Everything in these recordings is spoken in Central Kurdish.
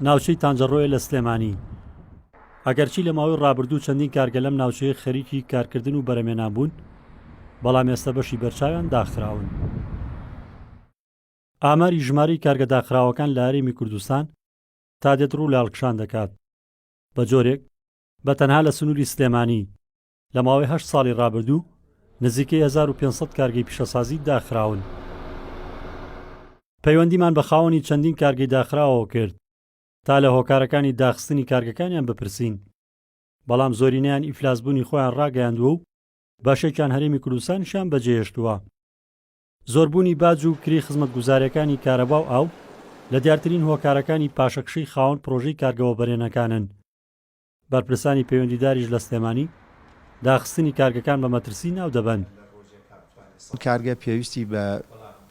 ناوچەی تانجەڕۆیە لە سلێمانی ئەگەرچی لە ماوەی ڕابردوو چەندین کارگە لەم ناوچەیە خەریکی کارکردن و بەرەمێنان بوون بەڵام ئێستا بەشی بەرچاویان داخراون ئاماری ژماری کارگە داخراوەکان لە هەرێمی کوردستان تا دێت ڕوو لە هەڵکشان دەکات بە جۆرێک بە تەنها لە سنووری سلێمانی لە ماوەی هەشت ساڵی ڕابردوو نزیکەی هەزار و پێنج سەد کارگەی پیشەسازی داخراون. پەیوەندیمان بە خاوەنی چەندین کارگەی داخراوەوە کرد تا لە هۆکارەکانی داخستنی کارگەکانیان بپرسین، بەڵام زۆرینەیان ئیفلاسبوونی خۆیان ڕاگەیاندووە و بەشێکیان هەرێمی کوردستانیشیان بەجێهێشتووە. زۆربوونی باج و کرێی خزمەتگوزارییەکانی کارەبا و ئاو لە دیارترین هۆکارەکانی پاشەکشەی خاوەن پڕۆژەی کارگە وەبەرێنەکانن. بەرپرسانی پەیوەندیداریش لە سلێمانی، داخستنی کارگەکان بە مەترسی ناودەبەن. ئەم کارگە پێویستی بە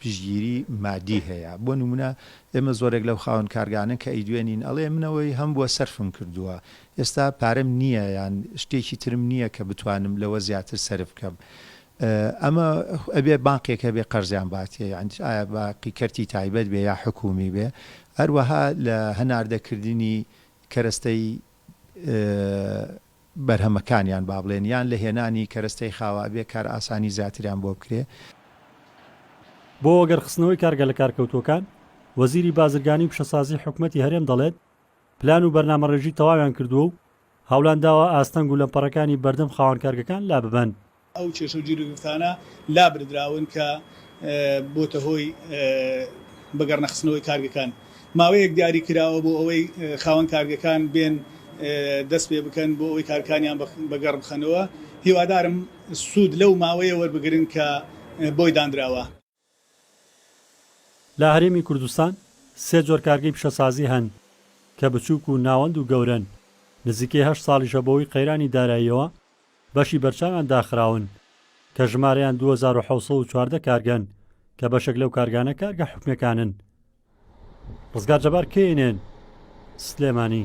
پشتگیری مادی هەیە، بۆ نمونە ئێمە زۆرێک لەو خاوەن کارگانە کە ئەیدوێنین ئەڵێ من ئەوەی هەمبووە سەرفم کردووە، ئێستا پارەم نییە یان شتێکی ترم نییە کە بتوانم لەوە زیاتر سەرف بکەم، ئەمە ئەبێ بانقێک هەبێ قەرزیان باتێ، ئایا بانقی کەرتی تایبەت بێ یا حکومی بێ، هەروەها لە هەناردەکردنی کەرەستەی بەرهەمەکانیان با بڵێن یان لە هێنانی کەرەستەی خاوە ئەبێ کار ئاسانی زیاتریان بۆ بکرێ. بۆ وەگەڕخستنەوەی کارگە لەکارکەوتووەکان، وەزیری بازرگانی و پیشەسازی حکومەتی هەرێم دەڵێت، پلان و بەرنامەڕێژی تەواویان کردووە و هەوڵیان داوە ئاستەنگ و لەمپەڕەکانی بەردەم خاوەن کارگەکان لاببەن. ئەو کێشە و گیروگرفتانە لابردراون کە بۆتە هۆی بە گەڕنەخستنەوەی کارگەکان ماوەیەک دیاری کراوە بۆ ئەوەی خاوەن کارگەکان بێن دەست پێ بکەن بۆ ئەوەی کارکانیان بە گەڕ بخەنەوە هیوادارم سوود لەو ماوەیە وەربگرن کە بۆی داندراوە. لە هەرێمی کوردستان سێ جۆر کارگەی پیشەسازی هەن کە بچووک و ناوەند و گەورەن، نزیکەی هەشت ساڵیشە بەهۆی قەیرانی داراییەوە بەشی بەرچاویان داخراون کە ژمارەیان دوو هەزار و حەوت سەد و چواردە کارگەن کە بەشێک لەو کارگانە کارگە حکومیەکانن. ڕزگار جەبار، کەی ئێن ئێن، سلێمانی.